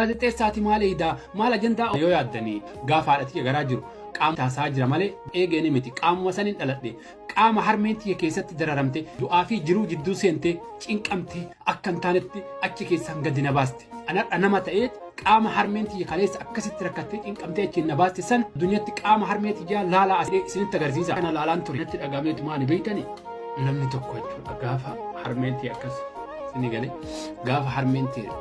Gaazexeessaati maal eeyda maal ajandaa yoo yaaddani gaafa haadha tiyya garaa jiru qaama taasaa jira malee eegeeni miti qaamuma sanin dhaladhe qaama harmeen tiyya keessatti dararamte du'aa fi jiruu jidduu seente cinqamte akka hin taanetti achi keessaan gadi na baaste anadha nama ta'ee qaama harmeen tiyya kaleessa akkasitti rakkattee cinqamtee achiin na baaste san addunyaatti qaama harmee tiyyaa laalaa asiree isinitti agarsiisa kana laalaan ture natti dhagameetu maani beektani namni tokko jechuudha gaafa harmeen tiyya akkas isinii galee gaafa harmeen tiyya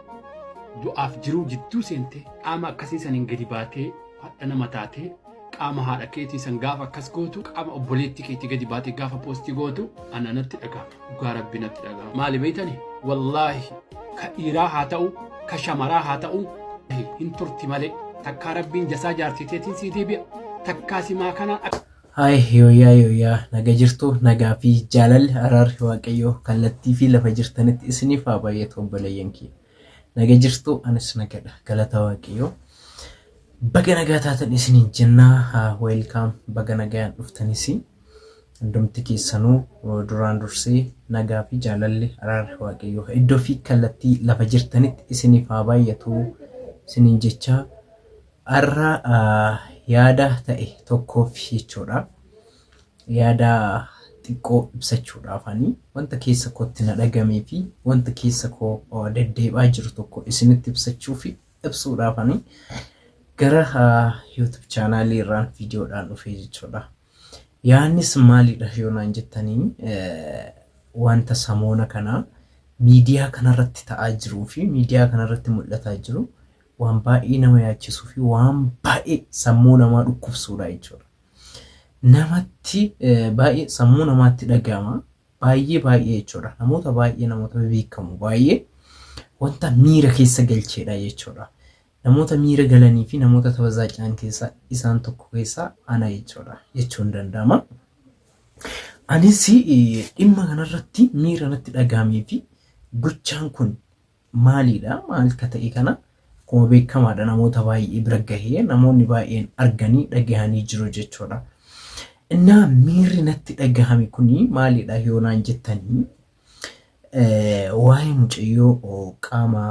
Du'aaf jiruu jidduu seentee qaama akkasii saniin gadi baatee hadha nama taatee qaama haadha keetii san gaafa akkas gootu qaama obboleetti keetii gadi baatee gaafa poostii gootu ana natti dhaga'ama dhugaa rabbi natti dhaga'ama maali beeytani wallaahi ka dhiiraa haa ta'u ka shamaraa haa ta'u hin turti malee takkaa rabbiin jasaa jaartii teetiin sii deebi'a takkaa simaa kanaan akka Hi yooyaa yooyaa naga jirtu nagaa fi jaalalli araarri waaqayyoo kallattii fi lafa jirtanitti isiniif haa baay'atu obboleeyyan kiyya naga jirtu anis nagadha galata waaqayyoo baga nagaa taatan isiniin jennaa haa weelkaam baga nagaan dhuftanis hundumti keessanuu uh, duraan dursee nagaa fi jaalalli araarri waaqayyoo iddoo fi kallattii lafa jirtanitti isiniif haa baay'atu isiniin jechaa Har'a yaada ta'e tokkoof jechuudha. Yaada xiqqoo ibsachuudhaaf ani wanta keessa kootti na dhagamee fi wanta keessa koo deddeebi'aa jiru tokko isinitti ibsachuu fi ibsuudhaaf ani gara YouTube chaanaalii irraan viidiyoodhaan dhufee jechuudha. Yaannis maalidha yoo naan jettanii wanta samoona kana miidiyaa kanarratti ta'aa jiruu fi miidiyaa kanarratti mul'ataa jiru waan baay'ee nama yaachisuu fi waan baay'ee sammuu namaa dhukkubsuudha jechuudha. Namatti baay'ee sammuu namaatti dhaga'ama. Baay'ee baay'ee jechuudha. Namoota baay'ee namoota beekamu baay'ee wanta miira keessa galcheedha jechuudha. Namoota miira galanii fi namoota tabazaacaan keessa isaan tokko keessaa ana jechuudha jechuun danda'ama. Anis dhimma kanarratti miira natti dhaga'amee fi gochaan kun Maaliidha? Maal ka ta'e kana? Akkuma beekamaadha namoota baay'ee bira gahee namoonni baay'een arganii dhagahanii jiru jechuudha. Innaa miirri natti dhagahame kuni maaliidha yoo naan jettanii waa'ee mucayyoo qaama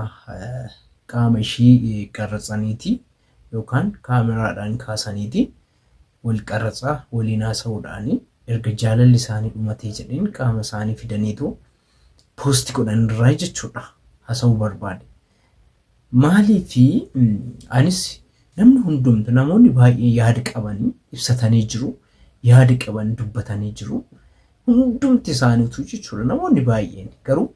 qaama ishii qarratsaniiti yookaan kaameraadhaan kaasaniiti wal qarratsaa waliin haasa'uudhaani erga jaalalli isaanii dhumatee jedheen qaama isaanii fidaniitu post godhan irraa jechuudha hasa'uu barbaade. Maaliif anis namni hundumtu namoonni baay'ee yaada qaban ibsatanii jiru yaada qaban dubbatanii jiru hundumti isaaniitu jechuudha namoonni baay'een garuu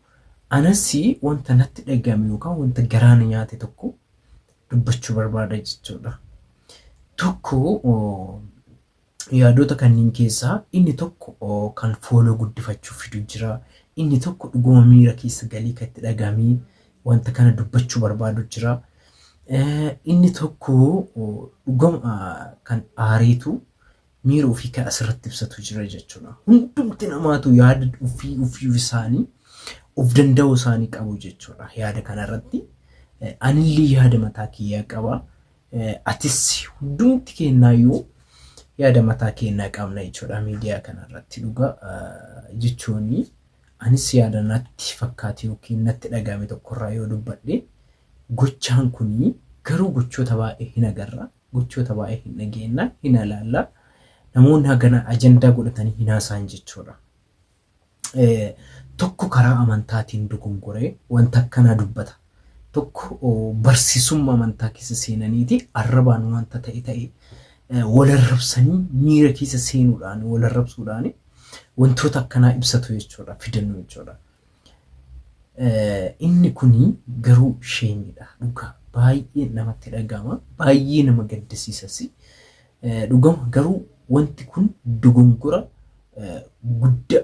anas wanta natti dhaga'ame yookaan wanta garaa na nyaate tokko dubbachuu barbaada jechuudha. Tokko Yaadota kanniin keessaa inni tokko kan fooloo guddifachuuf fidu jira, inni tokko dhuguma miira keessa galee kan itti dhagahamee wanta kana dubbachuu barbaadu jira. Inni tokko dhuguma kan aareetu miira ofii kan asirratti ibsatu jira jechuudha. Hundumti namaatu yaada ofii ofii isaanii of danda'uu isaanii qabu jechuudha yaada kanarratti. Anillee yaada mataa kiyyaa qaba. Atis hundumti keennaayyuu yaada mataa keennaa qabna jechuudha miidiyaa kanarratti dhugaa jechoonni anis yaada natti fakkaate yookiin natti dhaga'ame tokkorraa yoo dubbadhe gochaan kun garuu gochoota baay'ee hin agarra gochoota baay'ee hin dhageenna hin alaalla namoonni hagana ajandaa godhatanii hin haasa'an jechuudha. tokko karaa amantaatiin dogongoree wanta akkanaa dubbata. Tokko barsiisumma amantaa keessa seenaniiti arrabaan wanta ta'e ta'e wal arrabsanii miira keessa seenuudhaan wal arrabsuudhaan wantoota akkanaa ibsatu jechuudha fidannu jechuudha. Inni kun garuu sheemiidha dhugaa baay'ee namatti dhaga'ama baay'ee nama gaddisiisas Dhugama garuu wanti kun dogongora gudda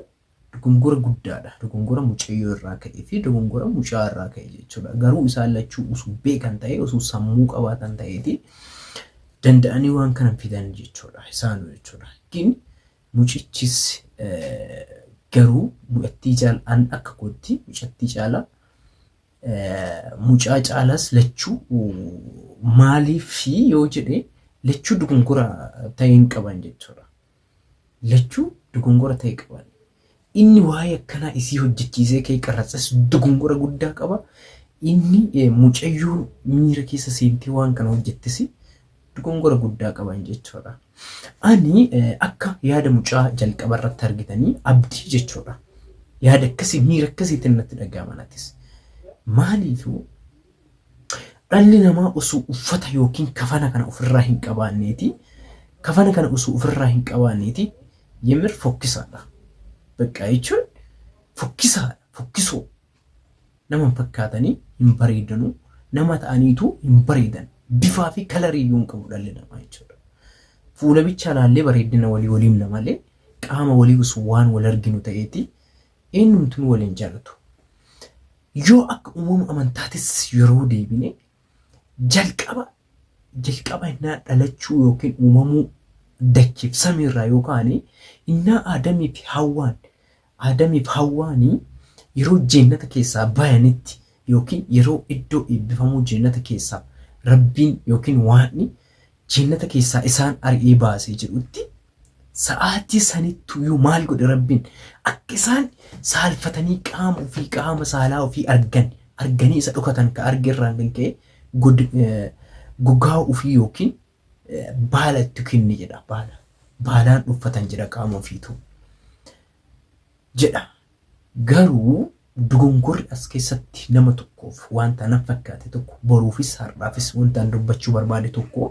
dogongora guddaadha dogongora mucayyoo irraa ka'e fi dogongora mucaa irraa ka'e jechuudha garuu isaan lachuu usuu beekan ta'e usuu sammuu qabaatan ta'eeti danda'anii waan kana fidan jechuudha isaanu jechuudha gin mucichis garuu mucattii caala an akka kootti mucattii caala mucaa caalaas lachuu maaliif yoo jedhe lachuu dogongora ta'e hin qaban jechuudha. Lachuu dogongora ta'e qaban. Inni waa'ee akkanaa isii hojjechiisee ka'ee qarratsas dogongora guddaa qaba. Inni mucayyoon miira keessa seentee waan kana hojjettisi dogongora guddaa qaban jechuudha. Ani akka yaada mucaa jalqaba irratti argitanii abdii jechuudha. Yaada akkasii miira akkasiitiin natti dhaga'ama natis. Maaliifuu dhalli namaa osoo uffata yookiin kafana kana ofirraa hin qabaanneeti kafana kana osoo ofirraa hin qabaanneeti yemir fokkisaadha. Bakka jechuun fokkisaadha fokkisoo. Nama hin fakkaatanii hin bareedanu, nama ta'aniitu hin bareedan. Bifaa fi kalarii iyyuu hin qabu dhalli namaa jechuudha. Fuula bichaa laallee bareeddina walii waliimna malee qaama walii osoo waan wal arginu ta'eeti eenyumtuu wal hin jaalatu. Yoo akka uumama amantaatis yeroo deebine jalqaba jalqaba innaa dhalachuu yookiin uumamuu dachiif samiirraa yoo kaane innaa Aadamii fi Hawwaan Aadamii fi Hawwaani yeroo jeennata keessaa bayanitti ykn yeroo iddoo eebbifamuu jeennata keessaa Rabbiin ykn Waaqni jeennata keessaa isaan ari'ee baase jedhutti sa'aatii sanittuyuu maal godhe Rabbiin? Akka isaan saalfatanii qaama ufii, qaama saalaa ufii argan, arganii isa dhokatan ka arge irraan kan ka'e god, gogaa ufii ykn baala itti kenne jedha baala baalaan dhuffatan jedha qaama ofiitu jedha garuu dogongorri as keessatti nama tokkoof wanta nan fakkaate tokko boruufis har'aafis wanta an dubbachuu barbaade tokko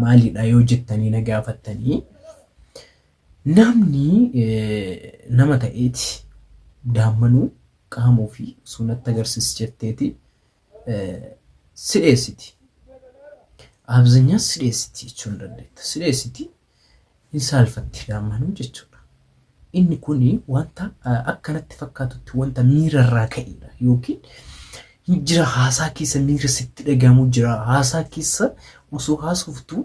maalidha yoo jettanii na gaafattanii namni nama ta'eeti daammanuu qaama ofii osoo natti agarsiis jetteeti si dheessiti. Abzanyaa si dheessiti jechuun dandeetta. Si dheessiti hin saalfatti daammanuu jechuudha. Inni kun wanta akkanatti fakkaatutti wanta miira irraa ka'edha yookiin hin jira haasaa keessa miira sitti dhagahamu jira haasaa keessa osoo haasoftu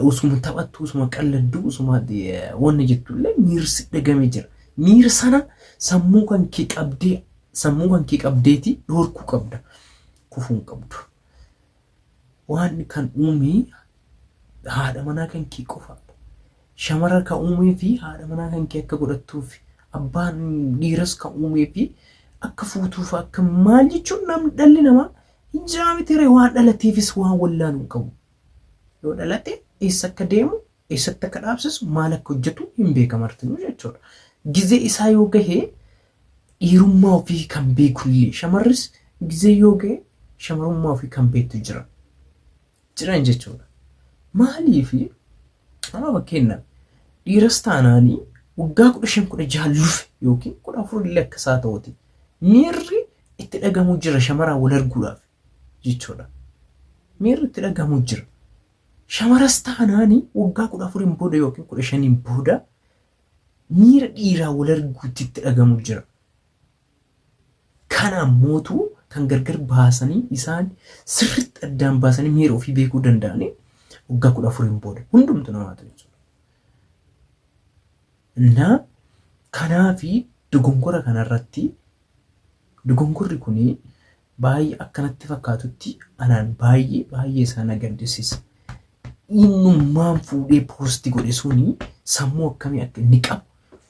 Osuma taphattu, osuma qalladdu, osuma wanna jettu illee miirsi dhagame jira. Miira sana sammuu kan kee qabdee sammuu kan kee qabdeeti dhorkuu qabda. Kufuu hin qabdu. Waan kan uumee haadha manaa kan kee qofaadha. Shamara kan uumee fi haadha manaa kan kee akka godhattuuf abbaan dhiiras kan uumee fi akka fuutuuf akka maal jechuun namni dhalli namaa hin jiraamiti waan dhalateefis waan wallaalu hin qabu. Yoo dhalate eessa akka deemu, eessatti akka dhaabsisu, maal akka hojjetu hin beeka martinuu jechuudha. Gizee isaa yoo gahe dhiirummaa ofii kan beekullee shamarris gizee yoo gahe shamarummaa ofii kan beektu jira. Jiran jechuudha. Maaliif amma fakkeenyaaf dhiiras taanaanii waggaa kudha shan kudha jaha lufe yookiin kudha afur illee akka isaa ta'uti miirri itti dhagamu jira shamaraan wal arguudhaaf. jechuudha. Miirri itti dhagahamu jira. Shamaras taanaan waggaa kudha afuriin booda yookiin kudha shaniin booda miira dhiiraa wal arguutti itti dhagahamu jira. Kana ammootu kan gargar baasanii isaan sirriitti addaan baasanii miira ofii beekuu danda'anii waggaa kudha afuriin booda hundumtu namaatu jechuudha. Innaa kanaafi dogongora kanarratti dogongorri kun Baay'ee akka natti fakkaatutti anaan baay'ee baay'ee isaa na gaddisiisa. Innummaan fuudhee poosti godhe suni sammuu akkamii akka inni qabu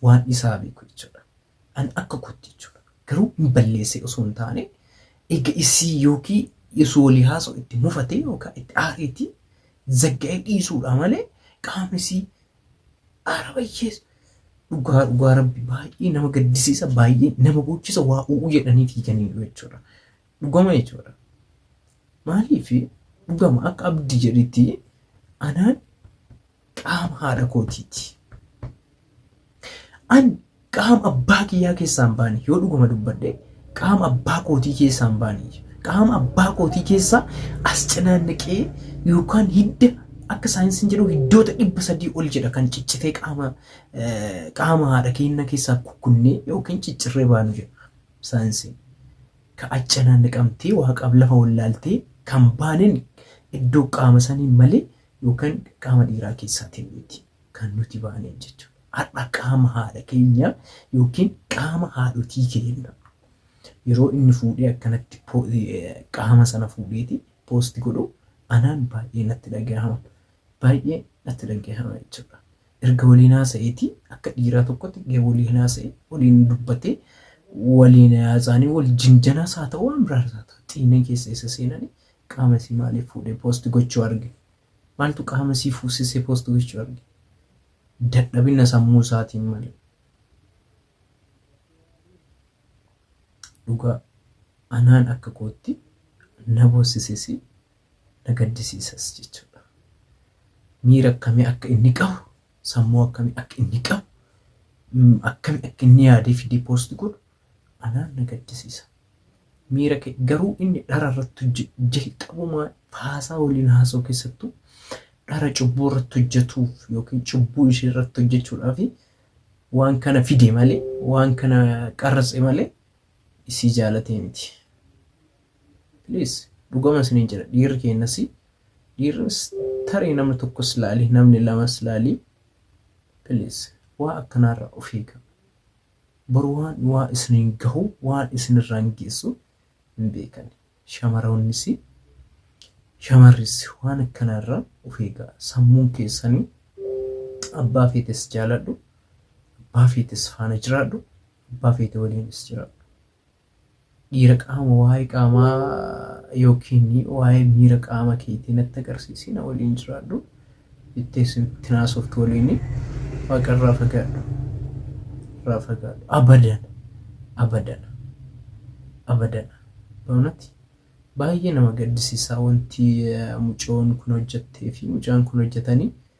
waan isaa beeku jechuudha. An akka kootti jechuudha. Garuu hin balleessee osoo hin taane eega isii yookiin osoo walii haasa'u itti mufatee yookaan itti aareeti zagga'ee dhiisuudha malee qaamni isii Aara bayyees dhugaa dhugaa rabbi baay'ee nama gaddisiisa baay'ee nama boochisa waa u'uu jedhanii fiiganiiru jechuudha. Dhugama jechuudha. Maaliif dhugama akka abdii jedhitti anaan qaama haadha kootiiti. An Qaama abbaa kiyyaa keessaa hin baane, yoo dhuguma dubbadhe qaama abbaa kootii keessaa hin baane. Qaama abbaa kootii keessaa as cinaannaqee yookaan hidda akka saayinsiin jedhu hiddoota dhibba sadii ol jedha kan ciccitee qaama qaama haadha keenya keessaa kukkunnee yookiin ciccirree baanu jedha saayinsiin. Ka as cinaannaqamtee waaqaaf lafa wallaaltee kan baaneen iddoo qaama sanii malee yookaan qaama dhiiraa keessaatiin miti. kan nuti baaneen jechuudha. Har'a qaama haadha keenya yookiin qaama haadhotii keenya yeroo inni fuudhee akkanatti po- eh, qaama sana fuudheeti poosti godhu anaan baay'ee natti dhagahama. Baay'ee natti dhagahama jechuudha. Erga waliin haasa'eeti akka dhiiraa tokkotti erga waliin haasa'e waliin dubbatee waliin haasaanii wal jinjanaas haa ta'u waan biraas haa ta'u xiineen keessa isa seenanii qaama isii maaliif fuudhee poosti gochuu arge Maaltu qaama isii fuusisee post gochuu arge? Dadhabina sammuu isaatiin malee. Dhugaa anaan akka kootti na boossises na gaddisiisas jechuudha. Miira akkamii akka inni qabu, sammuu akkamii akka inni qabu, akkami akka inni yaadee fidee post godhu Anaan na gaddisiisa. Miira kee garuu inni dhara irratti hojjetu jalqabuma haasaa waliin haasa'u keessattuu dhara cubbuu irratti hojjetuuf yookiin cubbuu ishee irratti hojjechuudhaaf waan kana fide malee waan kana qarratse malee isii jaalatee miti. Please dhugama isiniin jedha dhiirri keenyas dhiirris tarii namni tokkos laali namni lamas laali please waa akkanaarraa of eegaa. Bor waan waa isiniin gahu waan isin irraan geessu hin beekani. Shamaroonnis shamarris waan akkanaa irraa of eegaa. Sammuun keessanii abbaa feetes jaaladhu, abbaa feetes faana jiraadhu, abbaa feete waliinis jiraadhu. Dhiira qaama waa'ee qaamaa yookiin waa'ee miira qaama keetii natti agarsiisi na waliin jiraadhu jettee sitti naasoftu waliin waaqa irraa fagaadhu irraa fagaadhu abadan abadan abadan baanati baay'ee nama gaddisiisaa wanti mucoon kun hojjettee fi mucaan kun hojjetanii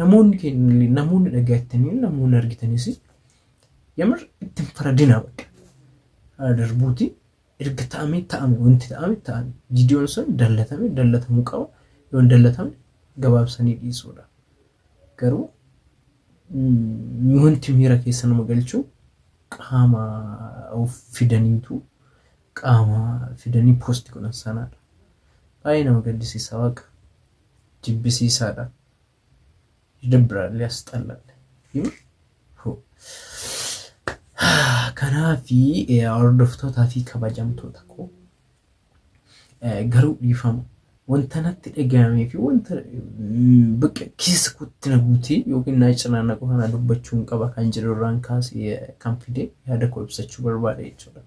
Namoonni keenya namoonni dhagayettanii namoonni argitanis yamar itti hin faradinaa bakka. Haa darbuuti erga ta'amee ta'ame wanti ta'ame ta'ame viidiyoon sun dallatame dallatamuu qaba yoo hin dallatame gabaabsanii dhiisuudha. Garuu mm, wanti miira keessa nama galchuu qaama of fidaniitu qaama fidanii poosti godhan sanaadha. Baay'ee nama gaddisiisa waaqa. jibbisiisaadha yidibbraal yasxallaal yuu hu kanaafi hordoftootaa fi kabajamtoota koo garuu dhiifama wanta natti dhaga'amee fi wanta bakka keessa kootti na guutee yookiin na cinaannaqu kana dubbachuun qaba kan jedhu irraan kaasee kan fide yaada koo ibsachuu barbaade jechuudha.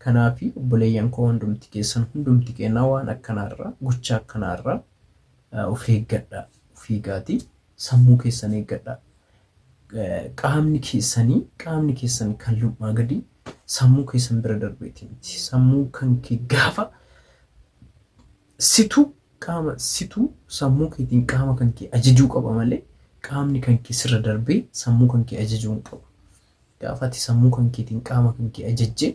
Kanaafi obboleeyyan koo hundumti keessan hundumti keennaa waan akkanaa irraa gocha akkanaa irraa of eeggadhaa of eegaatii sammuu keessan eeggadhaa qaamni keessanii qaamni keessan kan lum'aa gadii sammuu keessan bira darbeeti miti sammuu kan kee gaafa situ qaama situ sammuu keetiin qaama kan kee ajajuu qaba malee qaamni kan kee sirra darbee sammuu kan kee ajajuu hin qabu. Gaafa ati sammuu kan keetiin qaama kan kee ajajje,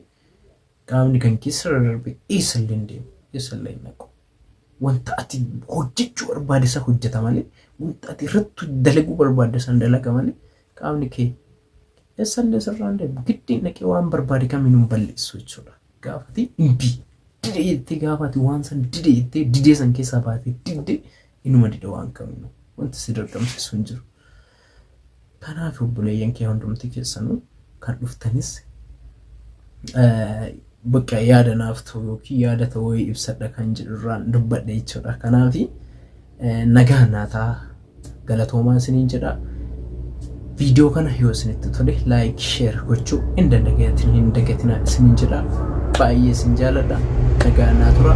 qaamni kan kees irra darbee eessa illee hin deemu, eessa illee hin dhaqu. Wanta ati hojjechuu barbaade san hojjeta malee, wanta ati irratti dalaguu barbaadde san dalaga malee, qaamni kee eessa illee sirraa hin deemu. Giddeen dhaqee waan barbaade kamiinuu hin balleessu jechuudha. Gaafa ati imbi dide jettee gaafa ati waan san dide jettee didee san keessaa baatee didde inuma dida waan kamiinuu. Wanti si dirqamsiisu hin jiru. Kanaaf obboleeyyan kee hundumti keessanuu kan dhuftanis bakka yaada naaf ta'u yookiin yaada ta'u wayii ibsadha kan jedhu irraan dubbadha jechuudha. Kanaaf nagaa naataa galatoomaa isiniin jedha. Viidiyoo kana yoo isinitti tole laayik sheer gochuu hin dandagatin hin dagatina isiniin jedha. Baay'ee isin jaaladha. Nagaa naa tura.